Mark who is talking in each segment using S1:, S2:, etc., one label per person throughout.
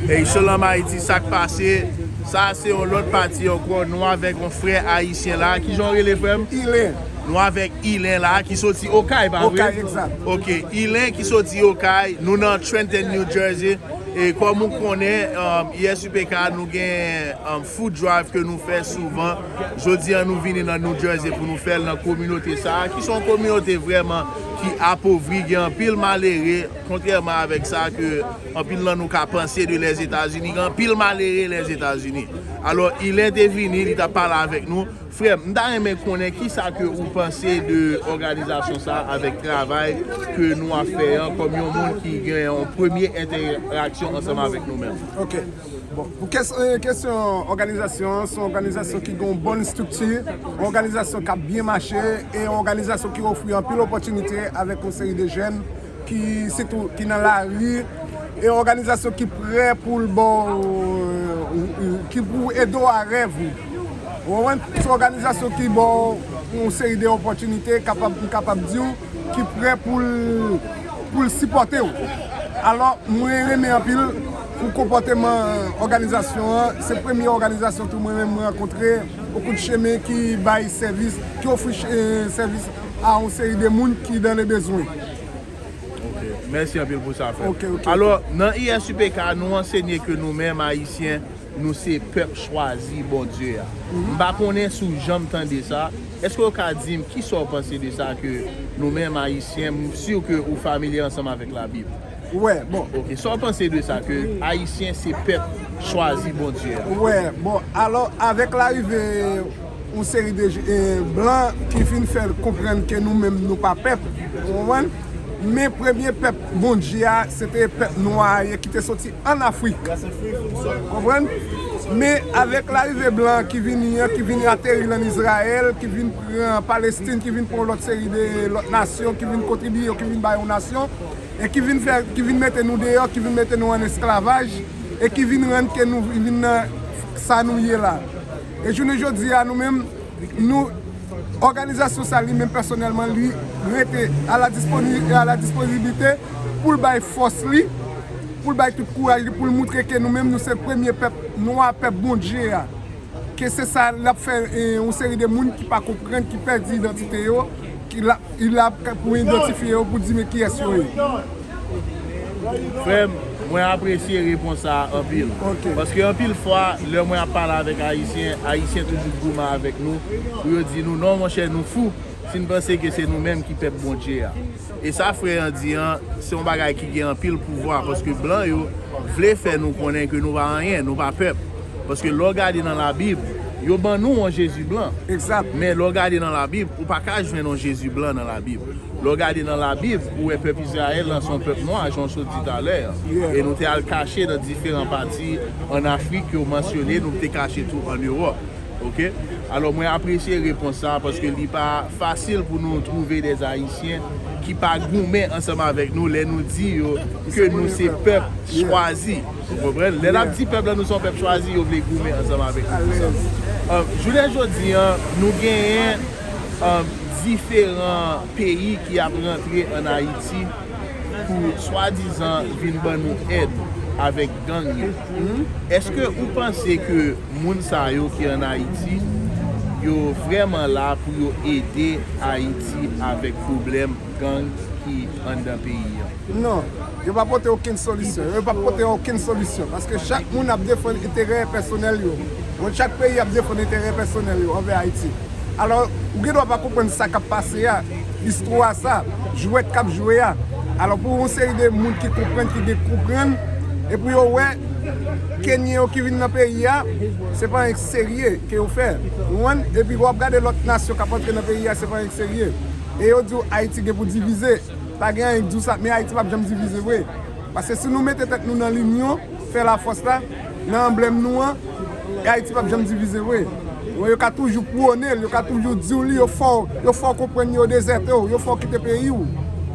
S1: Hey Shalom Haiti sak pase? Sa se yon lot pati anko nou avek yon fre ayisyen la kijan ou rele frem? Ilen. Nou
S2: avek
S1: Ilen la ki soti okay pa vre? Okay exact. Ok
S2: Ilen ki
S1: soti okay nou nan Trenton New Jersey e kom ou konnen YSUPK nou gen food drive ke nou fe souvan jodi an nou vini nan New Jersey pou nou fel nan kominote sa ki son kominote vreman ki apovri gen anpil malere kontreman avek sa ke Anpil nan nou ka panse de Lèzetazini gen anpil malere Lèzetazini. Alò ilè te vini li ta pale avèk nou. Frèm, m ta renmen konnen kisa ke ou panse de òganizasyon sa a avèk travay ke nou ap fè an kòm yon moun ki gen yon premye entèraksyon ansanm avèk nou menm. Ok.
S2: Bon, pou kesyon òganizasyon an, se yon òganizasyon ki gen yon bon estrikti, yon òganizasyon k ap byen mache e yon òganizasyon ki ofri anpil opòtinite avèk yon seri de jèn. ki sitou ki nan lari e òganizasyon ki prè pou l ba w ki pou l ede w a rèv ou ou konprann se òganizasyon ki ba w yon seri de opòtinite kapab m kapab di w ki prè pou l pou l sipòte w alò mwen renmen anpil pou konpòteman òganizasyon an se premye òganizasyon tou mwen menm m rankontre okou chemen ki bay sèvis ki ofri sèvis. a yon seri de moun ki dan le bezwen.
S1: Ok, mèsi anpil pou sa frè m. Alò, nan ISUPK a, nou ansenye ke nou menm Ayisyen, nou se pèp chwazi Bondye a. M pa konnen si w janm tande sa, èske w ka di m kisa w panse de sa ke nou menm Ayisyen, m si ke ou familye ansanm avèk Labib? Wè, bon.
S2: Ok, sa w panse de
S1: sa ke Ayisyen se pèp chwazi Bondye a? Wè, bon,
S2: alò avèk larive. Yon seri de blan ki vin fè l konprann ke nou menm nou pa pèp, ou konprann? Men premye pèp Bondye a, se te pèp nwa a ye ki te soti ann Afrik. Ou konprann? Men avèk larive blan an ki vini an, ki vini ateri l ann Izrayèl, ki vin pran Palestin, ki vin pran yon lòt seri de lòt nasyon, ki vin kontribiye yo, ki vin ba yo nasyon, e ki vin fè, ki vin mete nou deyò, ki vin mete nou ann esklavaj, e ki vin rann ke nou vin nan sa nou ye la. E jounen jodi a nou menm nou òganizasyon sa li menm pèsonèlman li rete a la disponibite e a la dispoziblite pou l bay fòs li, pou l bay tout kouraj li pou l moutre ke nou menm nou se premye pèp nwa, pèp Bondje a. Ke se sa l ap fè yon seri de moun ki pa konprann, ki pèdi idantite yo. Ki la pou idantifye yo pou di men kiyès yo ye.
S1: Frèm, mwen apresye repons sa a anpil. Paske anpil
S2: fwa,
S1: lè mwen ap pale avèk Ayisyen, Ayisyen toujou goumen avèk nou pou yo di nou, non monchè nou fou si n panse ke se nou menm ki pèp Bondye a. E sa frè an di an, se yon bagay ki gen anpil pouvwa, paske blan yo vle fè nou konnen ke nou pa anyen, nou pa pèp. Paske lè w gade nan labib, yo ban nou yon Jezi blan. Exact. Men lè w
S2: gade nan
S1: labib, ou pa ka jwenn yon Jezi blan nan labib. Lè w gade nan labib, ou wè pèp Izrayèl lan se yon pèp nwa, jan w sot di talè an. Yeah. E nou te al kache nan diferan pati an Afrik ke w mansyone, nou te kache tou an Ewòp. Ok? Alò mwen apresye repons sa a paske li pa fasil pou nou twouve des Ayisyen ki pa goumen ansanm avèk nou lè nou di yo ke nou se pèp chwazi. Ou konprann? Lè n ap di pèp la nou se yon pèp chwazi, yo vle goumen ansanm avèk nou pou sa. Jounen jodi a, nou genyen diferan peyi ki ap rantre ann Ayiti pou swadizan vin ban nou èd avèk gang yo. Èske ou panse ke moun sa yo ki ann Ayiti, yo vrèman la pou yo ede Ayiti avèk pwoblèm gang ki anndan peyi an? Non, yo pa
S2: pote okenn solisyon. Yo pap pote okenn solisyon. Paske chak moun ap defann enterè pèsonèl yo. Moun chak peyi ap defann enterè pèsonèl yo anvè Ayiti. Alò, ou gen dwa pa konprann sa kap pase a, istwa sa, jwèt kap jwe a. Alò pou yon seri de moun ki konprann, ki gen konprann, e pou yo wè Kenyen yo ki vin nan peyi a, se pa anyen ki serye ke yo fè. Ou konprann? Epi wap gade lòt nasyon kap antre nan peyi a, se pa anyen ki serye. E yo diw Ayiti gen pou divize, pa gen anyen k diw sa, men Ayiti pap janm divize vre. Paske si nou mete tèt nou nan linyon, fè lafòs la, nan anblèm nou an, Ayiti pap janm divize vre. Yo ka toujou pwone l, yo ka toujou diw li, yo fè w, yo fè w konprann yo dezète w, yo fè w kite peyi w.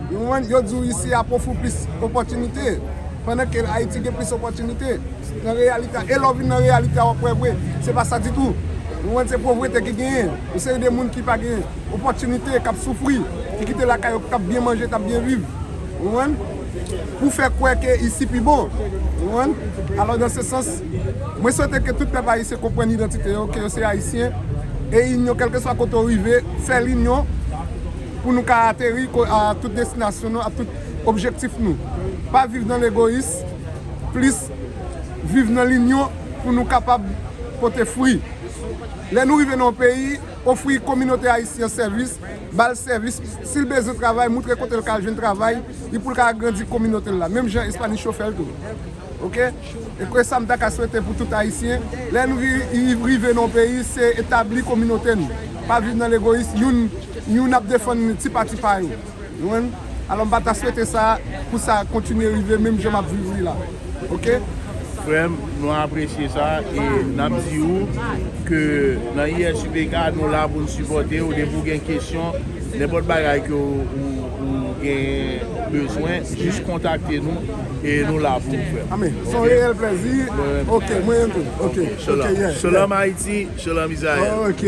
S2: Ou konprann? Yo diw isi ap ofri w plis opòtinite, pandan ke Ayiti gen plis opòtinite. Nan reyalite a, e lè w vin nan reyalite a wap wè vre, se pa sa ditou. Ou konprann? Se povrete ki genyen. Yon seri de moun ki pa gen. Opòtinite k ap soufri, ki kite lakay yo, k ap byen manje, k ap byen viv. Ou konprann? Pou fè kwè ke isi pi bon. Ou konprann? Alò dan se sans, mwen swete ke tout pèp ayisyen konprann idantite yo, ke yo se ayisyen, e inyon kèlkeswa kote ou rive, fè linyon pou nou ka ateri a tout destinasyon nou, a tout objektif nou. Pa viv nan legoyis, plis viv nan linyon pou nou kapab pote fwi. Lè nou rive nan yon peyi. Ofri kominote ayisyen an sèvis, ba l sèvis, si l bezwen travay moutre kote l ka al jwenn travay li pou l ka agrandi kominote l la menm jan Espanicho fè l tou ok e ke sa m ta ka swete pou tout ayisyen lè n rive nan yon peyi se etabli kominote nou pa viv nan legoyis youn ap defann ti pati pa yo. Jwenn? Alò m pa ta swete sa pou sa kontinye rive menm jan m ap viv li la. Ok. Frè m,
S1: nou apresye sa e n ap di ou ke nan ISUPK nou la pou n sipòte ou depi ou gen kesyon, nenpòt bagay ke ou gen bezwen, jis kontakte nou e nou la pou ou frè m. Amè. Se yon reyèl plèzi.
S2: Ok. Mwen menm tou. Ok.
S1: Shalom
S2: Ayiti,
S1: Shalom
S2: Izrayèl. Ok.